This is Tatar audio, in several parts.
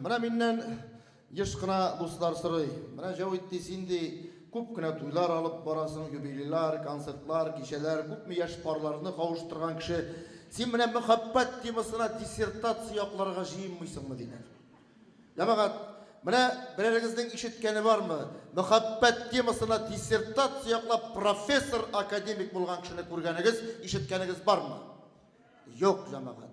Менә миннән еш кына дуслар сорый, Менә, Җәвит, ди, син, ди, күп кенә туйлар алып барасың, юбилейлар, концертлар, кичәләр, күпме яшь парларны кавыштырган кеше. Син менә мәхәббәт темасына диссертация якларга җыенмыйсыңмы? диләр. Җәмәгать, менә берәрегезнең ишеткәне бармы, мәхәббәт темасына диссертация яклап профессор, академик булган кешене күргәнегез, ишеткәнегез бармы? Юк, җәмәгать.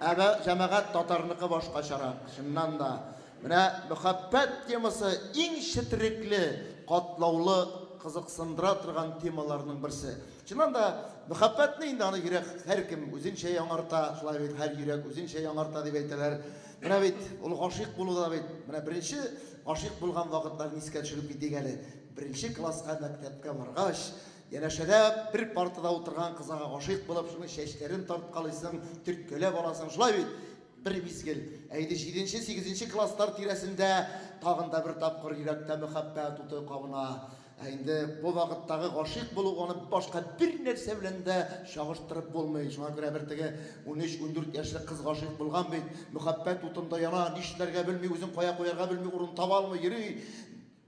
Ә бә, җәмәгать татарныкы башкачарак, чыннан да. Менә мөхәббәт темасы иң четерекле, катлаулы, кызыксындыра торган темаларның берсе. Чыннан да, мөхәббәтне инде аны йөрәк һәркем үзенчә яңарта, шулай бит, һәр йөрәк үзенчә яңарта дип әйтәләр. Менә бит ул гашыйк булу да бит, менә беренче гашыйк булган вакытларны искә төшереп китик әле. Беренче класска мәктәпкә баргач, Янәшәдә бер партада утырган кызага гашыйк булып, шуның чәчләрен тарткалыйсың, төрткәләп аласың. Шулай бит? Бер мизгел, ә инде җиденче, сигезенче класслар тирәсендә тагын да бер тапкыр йөрәктә мәхәббәт уты кабына. Ә инде бу вакыттагы гашыйк булу аны башка бернәрсә белән дә чагыштырып булмый. Шуңа күрә бер теге унөч-ундүрт яшьлек кыз гашыйк булган бит, мәхәббәт утында яна, нишләргә белми, үзен кая куярга белми, урын таба алмый йөри.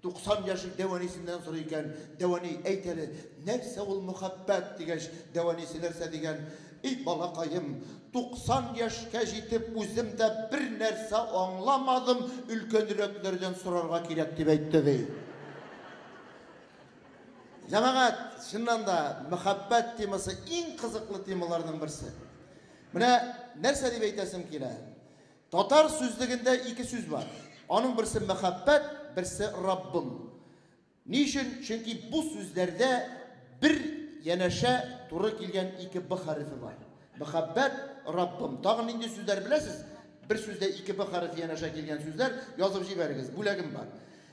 90 яшьлек дәванисеннән сорый икән, Дәвани, әйт әле, нәрсә ул мөхәббәт? дигәч, дәванисе нәрсә дигән, Эй, балакаем, 90 яшькә җитеп, үзем дә бер нәрсә аңламадым, өлкәнрәкләрдән сорарга кирәк, дип әйтте, ди. Җәмәгать, чыннан да, мөхәббәт темасы иң кызыклы темаларның берсе. Менә нәрсә дип әйтәсем килә. Татар сүзлегендә ике сүз бар. Аның берсе мәхәббәт, берсе Раббым. Ни өчен? Чөнки бу сүзләрдә бер янәшә туры килгән ике Б хәрефе бар. Мәхәббәт, Раббым. Тагын нинди сүзләр беләсез? Бер сүздә ике Б хәрефе янәшә килгән сүзләр язып җибәрегез. Бүләгем бар.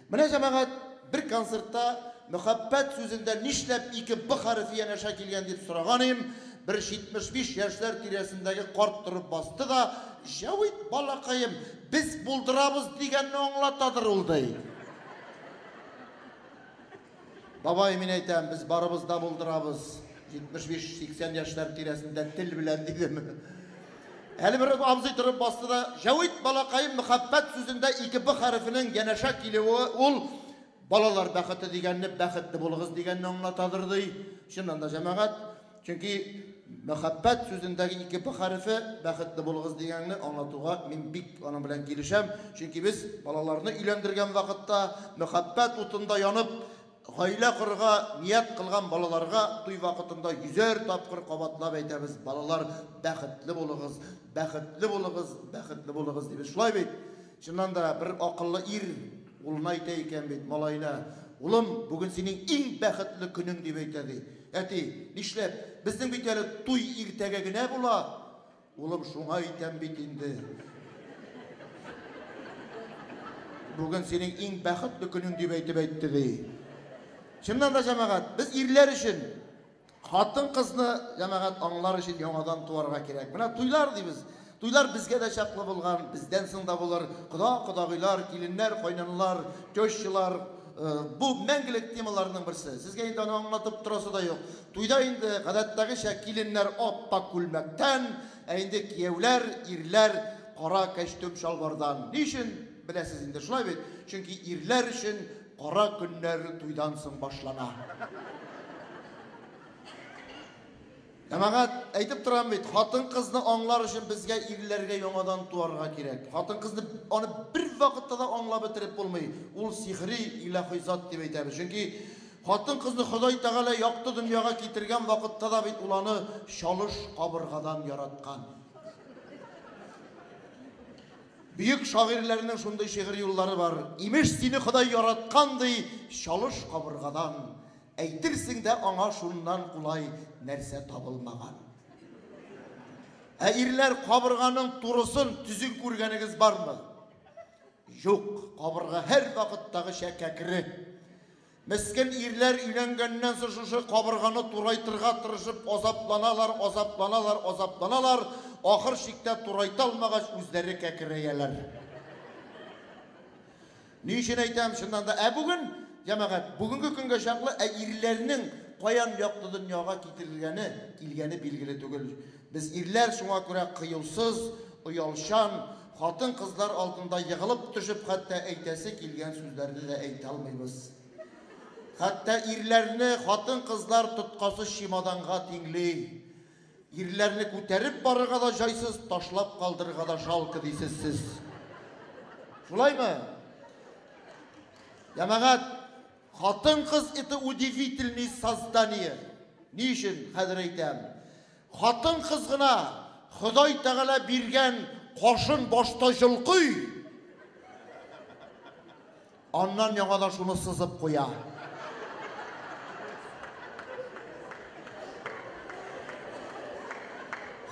Менә, җәмәгать, бер концертта Мөхәббәт сүзендә нишләп ике Б хәрефе янәшә килгән дип сораганыем, бер 75 яшьләр тирәсендәге карт торып басты да, Җәвит балакаем, без булдырабыз дигәнне аңлатадыр ул, ди. Бабай, мин әйтәм, без барыбыз да булдырабыз. 75-80 яшьләр тирәсендә тел белән дидем. Әле бер абзый торып басты да, Җәвит балакаем мәхәббәт сүзендә ике б хәрефенең янәшә килүе ул балалар бәхете дигәнне бәхетле булыгыз дигәнне аңлатадыр ди. Чыннан да җәмәгать Чөнки мәхәббәт сүзендәге ике б хәрефе бәхетле булыгыз дигәнне аңлатуга мин бик аның белән килешәм. Чөнки без балаларны өйләндергән вакытта мәхәббәт утында янып, гаилә корырга ният кылган балаларга туй вакытында йөзәр тапкыр кабатлап әйтәбез, балалар, бәхетле булыгыз, бәхетле булыгыз, бәхетле булыгыз, дибез. Шулай бит? Чыннан да, бер акыллы ир улына әйтә икән бит, малаена, Улым, бүген синең иң бәхетле көнең, дип әйтә, ди. Әти, Нишләп? Безнең бит әле туй иртәгә генә була. Улым, Шуңа әйтәм бит инде. Бүген синең иң бәхетле көнең, дип әйтеп әйтте, ди. Чыннан да, җәмәгать, без ирләр өчен Хатын-кызны, җәмәгать, аңлар өчен яңадан туарга кирәк. Менә туйлар дибез. Туйлар безгә дә чаклы булган, бездән соң да булыр. Кода, кодагыйлар, киленнәр, кайнаналар, тещалар, бу, мәңгелек темаларның берсе. Сезгә инде аны аңлатып торасы да юк. Туйда инде, гадәттәгечә, киленнәр ап-ак күлмәктән, ә инде кияүләр, ирләр, кара кәчтүм-чалбардан. Ни өчен, беләсез инде, шулай бит? Чөнки ирләр өчен Кара көннәр туйдан соң башлана. Җәмәгать, әйтеп торам бит, хатын-кызны аңлар өчен безгә ирләргә яңадан туарга кирәк. Хатын-кызны аны бер вакытта да аңлап бетереп булмый. Ул сихри, илаһи зат дип әйтәбез. Чөнки хатын-кызны Ходай Тәгалә якты дөньяга китергән вакытта да бит ул аны чалыш кабыргадан яраткан. Бөек шагыйрьләрнең шундый шигырь юллары бар, Имеш, сине Ходай яраткан, ди, чалыш кабыргадан, Әйтерсең дә аңа шуннан кулай нәрсә табылмаган. Ә ирләр кабырганың турысын, төзен күргәнегез бармы? Юк, кабырга һәрвакыттагыча кәкре. Мескен ирләр өйләнгәннән соң шушы кабырганы турайтырга тырышып азапланалар, азапланалар, азапланалар, ахыр чиктә турайта алмагач үзләре кәкерәяләр. Ни өчен әйтәм, чыннан да, ә бүген, җәмәгать, бүгенге көнгә чаклы ә ирләрнең каян якты дөньяга китерелгәне, килгәне билгеле түгел. Без ирләр шуңа күрә кыюсыз, оялчан, Хатын-кызлар алдында егылып төшеп, хәтта әйтәсе килгән сүзләрне дә әйтә алмыйбыз. Хәтта ирләрне хатын-кызлар тоткасыз чемоданга тиңли. Ирләрне күтәреп барырга да җайсыз, ташлап калдырырга да жалко дисез сез. Шулаймы? Ямагат, хатын-кыз это удивительные создания. Ни өчен хәзер әйтәм? Хатын-кыз гына Ходай Тәгалә биргән кашын башта җолкый, аннан яңадан шуны сызып куя.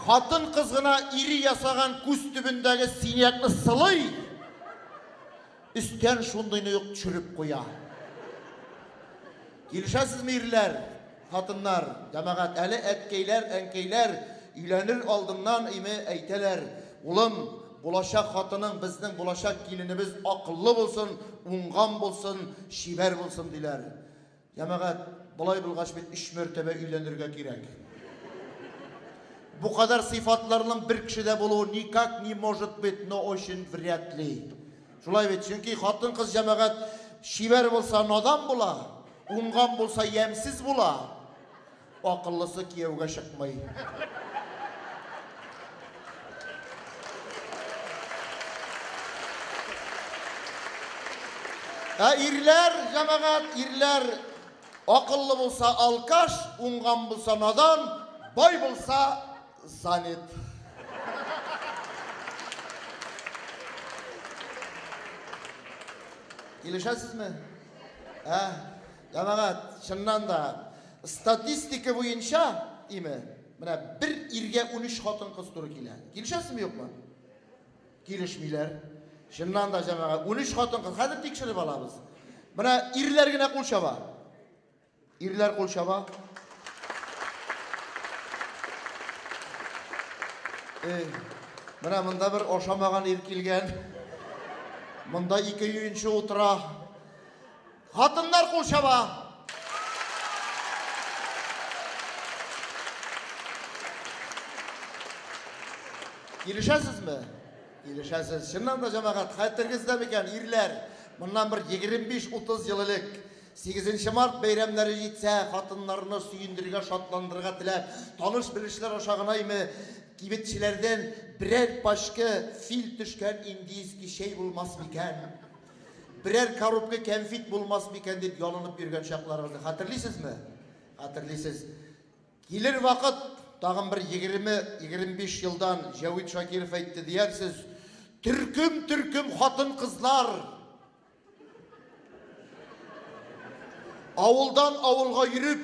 Хатын-кыз гына ире ясаган күз төбендәге синякны сылый, Өстән шундыйны ук төшереп куя. Килешәсезме, ирләр, хатыннар, җәмәгать, әле әткәйләр, әнкәйләр өйләнер алдыннан име әйтәләр, Улым, булачак хатының, безнең булачак киленебез акыллы булсын, уңган булсын, чибәр булсын, диләр. Җәмәгать, болай булгач бит өч мәртәбә өйләнергә кирәк. Бу кадәр сыйфатларның бер кешедә булуы никак не может быть, но очень вряд ли. Шулай бит, чөнки хатын-кыз җәмәгать чибәр булса надан була, уңган булса ямьсез була. Акыллысы кияүгә чыкмый. Ә ирләр, җәмәгать, ирләр акыллы булса алкаш, уңган булса надан, бай булса занят. Килешәсезме? Ә? Җәмәгать, чыннан да, статистика буенча, име, менә бер иргә 13 хатын-кыз туры килә. Килешәсезме, юкмы? Килешмиләр. Чыннан да, җәмәгать, 13 хатын-кыз. Хәзер тикшереп алабыз. Менә ирләр генә кул чаба. Ирләр кул чаба. Эй, менә монда бер ашамаган ир килгән. Монда ике юенчы утыра. Хатыннар кул чаба. Килешәсезме? Килешәсез. Чыннан да җәмәгать, хәтергездә микән, ирләр, моннан бер 25-30 ел элек 8 март бәйрәмнәре җитсә, хатыннарны сөендерергә, шатландырырга теләп, таныш-белешләр аша гынаймы, кибетчеләрдән берәр пачка фил төшкән индийский чәй булмас микән? Берәр коробка кәнфит булмас микән дип ялынып йөргән чакларыгызны хәтерлисезме? Хәтерлисез. Килер вакыт, тагын бер 20-25 елдан Җәвит Шакиров әйтте диярсез, төркем-төркем хатын-кызлар авылдан авылга йөреп,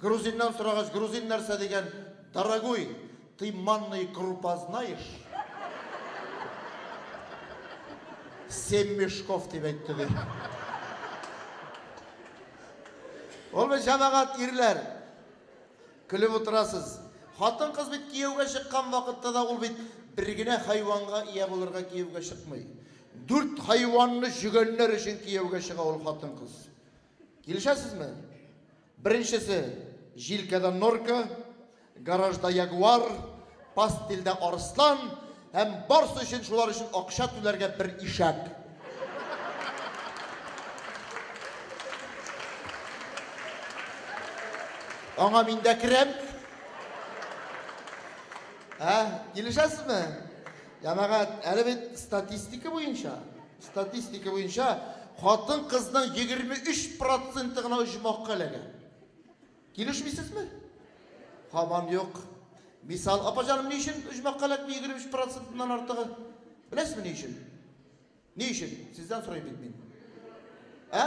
Грузиннан сорагач, грузин нәрсә дигән, дорогуй, ты манный крупа знаешь? Семь мешков дип әйтте, ди. Ул бит җәмәгать, ирләр. Көлеп утырасыз. Хатын-кыз бит кияүгә чыккан вакытта да ул бит бер генә хайванга ия булырга кияүгә чыкмый. Дүрт хайванны җөгәннәр өчен кияүгә чыга ул хатын-кыз. Килешәсезме? Беренчесе, җилкәдә норка, гаражда ягуар, пастельдә арыслан һәм барсы өчен шулар өчен акча түләргә бер ишәк. Аңа мин дә керәм. Ә, килешәсезме? Җәмәгать, әле бит статистика буенча, Статистика буенча, хатын-кызның 23 проценты гына оҗмахка эләгә. Килешмисезме? Һаман юк. Мисал, апа җаным, ни өчен оҗмахка эләкми 23 процентыннан артыгы? Беләсезме ни өчен? Ни өчен? Сездән сорыйм бит мин. Ә?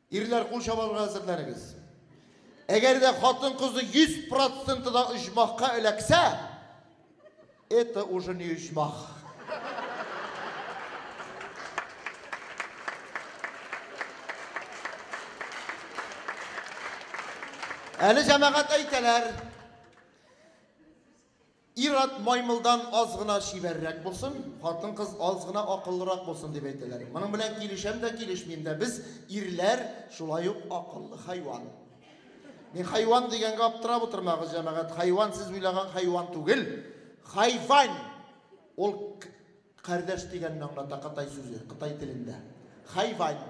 Ирләр кул чабарга әзерләнегез. Әгәр дә хатын-кызы 100% да оҗмахка эләксә, это уже не оҗмах. Әле җәмәгать әйтәләр. Ир-ат маймылдан аз гына чибәррәк булсын, хатын-кыз аз гына акыллырак булсын, дип әйтәләр. Моның белән килешәм дә, килешмим дә. Без, ирләр, шулай ук акыллы хайван. Мин хайван дигәнгә аптырап утырмагыз, җәмәгать. Хайван сез уйлаган хайван түгел. Хайвань! Ул Кардәш дигәнне аңлата кытай сүзе, кытай телендә. Хайвань.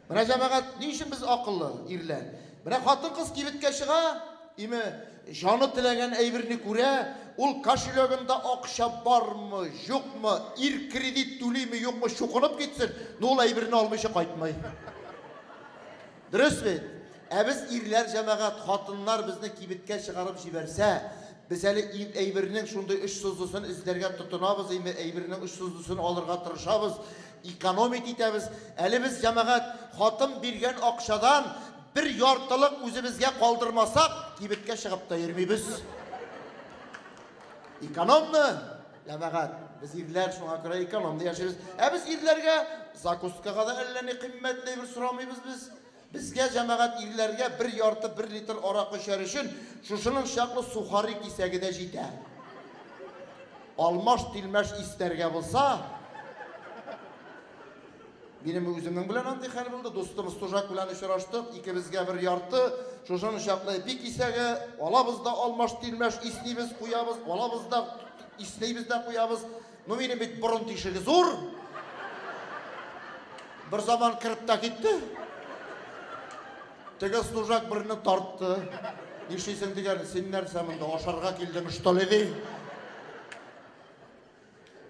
Менә җәмәгать, ни өчен без акыллы ирләр? Менә хатын-кыз кибеткә чыга, име, җаны теләгән әйберне күрә, ул кошелегында акча бармы, юкмы, ир кредит түлиме, юкмы, чукынып китсен, но ул әйберне алмыйча кайтмый. Дөрес бит? Ә без ирләр җәмәгать, хатыннар безне кибеткә чыгарып җибәрсә, без әле ил әйбернең шундый очсызлысын эзләргә тотынабыз име, әйбернең очсызлысын алырга тырышабыз, экономить итәбез. Әле без җәмәгать, хатын биргән акчадан бер яртылык үзебезгә калдырмасак, кибеткә чыгып та йөрмибез. Экономны! Җәмәгать, без ирләр шуңа күрә экономны яшибез. Ә без ирләргә закускага да әллә ни кыйммәтле бер сорамыйбыз без. Безгә җәмәгать ирләргә бер ярты бер литр аракы эчәр өчен шушының чаклы сухари кисәге дә җитә. Алмаш-тилмәш истәргә булса, Минем үземнең белән андый хәл булды. Дустым Стужак белән очраштык. Икебезгә бер ярты, шушын чаклы эпи кисәге, алабыз да алмаш тилмәш иснибез, куябыз, алабыз да иснибез дә куябыз. Ну минем бит борын тишеге зур. Бер заман кереп тә китте. Теге Стужак берне тартты. Нишлисең дигән, син нәрсә монда ашарга килдең, что ли?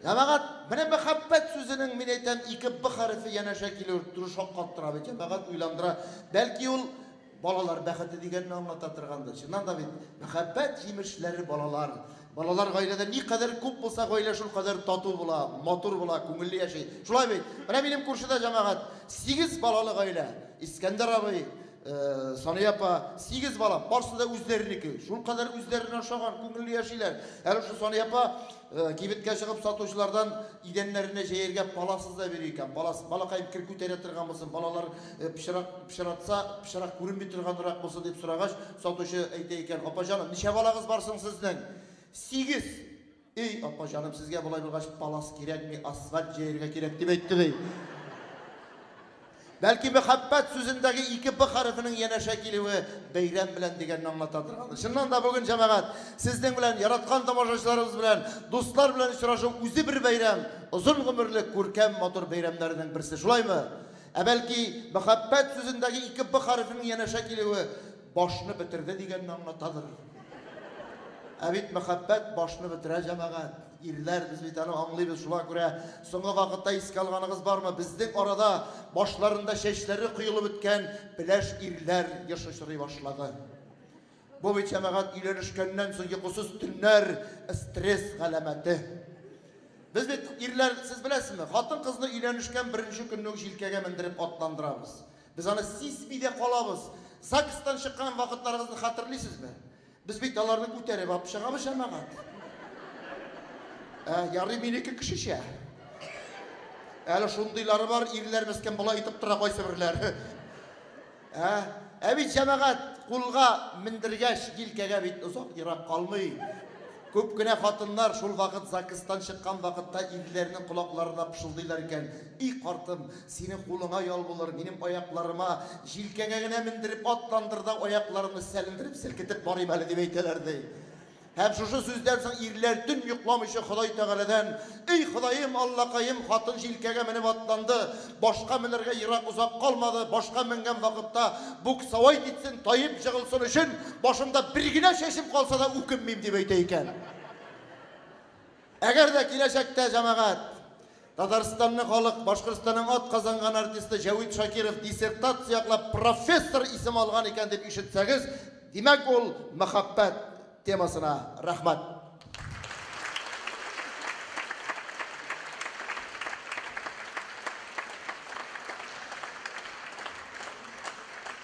Җәмәгать, менә мәхәббәт сүзенең, мин әйтәм, ике б хәрефе янәшә килү тору шаккаттыра бит, җәмәгать уйландыра. Бәлки ул балалар бәхете дигәнне аңлата торгандыр. Чыннан да бит, мәхәббәт җимешләре балалар. Балалар гаиләдә никадәр күп булса, гаилә шул кадәр тату була, матур була, күңелле яши. Шулай бит? Менә минем күршедә, җәмәгать, сигез балалы гаилә. Искәндәр абый, Э, Сания апа, сигез бала, барысы да үзләренеке. Шул кадәр үзләренә ошаган, күңелле яшиләр. Әле шул Сания апа э, кибеткә чыгып сатучылардан идәннәренә җәяргә паласыз да бирә икән. Палас, балакай кер күтәрә торган булсын, балалар э, пычрак пычратса, пычрак күренми торганрак булсын дип сорагач, сатучы әйтә икән, апа җаным, ничә балагыз бар соң сезнең? Сигез. Ий, апа җаным, сезгә болай булгач палас кирәкми, асфальт җәяргә кирәк, дип әйтте, ди. Бәлки мәхәббәт сүзендәге ике б хәрефенең янәшә килүе бәйрәм белән дигәнне аңлатадыр. Чыннан да бүген җәмәгать, сезнең белән, яраткан тамашачыларыбыз белән, дуслар белән очрашу үзе бер бәйрәм, озын гомерле, күркәм, матур бәйрәмнәрнең берсе, шулаймы? Ә бәлки мәхәббәт сүзендәге ике б хәрефенең янәшә килүе Башны бетерде дигәнне аңлатадыр. Ә бит мәхәббәт башны бетерә, җәмәгать. Ирләр, без бит аны аңлыйбыз, шуңа күрә соңгы вакытта искә алганыгыз бармы, безнең арада башларында чәчләре коелып беткән пеләш ирләр еш очрый башлады. Бу бит, җәмәгать, өйләнешкәннән соң йокысыз төннәр, стресс галәмәте. Без бит, ирләр, сез беләсезме, хатын-кызны өйләнешкән беренче көнне үк җилкәгә мендереп атландырабыз. Без аны сизми дә калабыз. ЗАГСтан чыккан вакытларыбызны хәтерлисезме? Без бит аларны күтәреп алып чыгабыз җәмәгать. Ә, ярый минеке кешечә. Әле шундыйлары бар, ирләр мескен болай итеп тора кайсыберләр. Ә, ә бит җәмәгать кулга мендергәч, җилкәгә бит озак ерак калмый. Күп кенә хатыннар шул вакыт ЗАГСтан чыккан вакытта ирләренең колакларына пышылдыйлар икән. И картым, синең кулыңа ял булыр, минем аякларыма, җилкәңә генә мендереп атландыр да, аякларымны сәлендереп, селкетеп барыйм әле, дип әйтәләр, ди. Һәм шушы сүздән соң ирләр төн йокламыйча Ходай Тәгаләдән, Эй, Ходаем, Аллакаем, хатын җилкәгә менеп атланды, башка менәргә ерак озак калмады, башка менгән вакытта буксовать итсен, таеп җыгылсын өчен, башымда бер генә чәчем калса да үкенмим, дип әйтә икән. Әгәр дә киләчәктә, җәмәгать, Татарстанны халык Башкортстанның атказанган артисты Җәвит Шакиров диссертация яклап профессор исеме алган икән дип ишетсәгез, димәк, ул мәхәббәт темасына рәхмәт.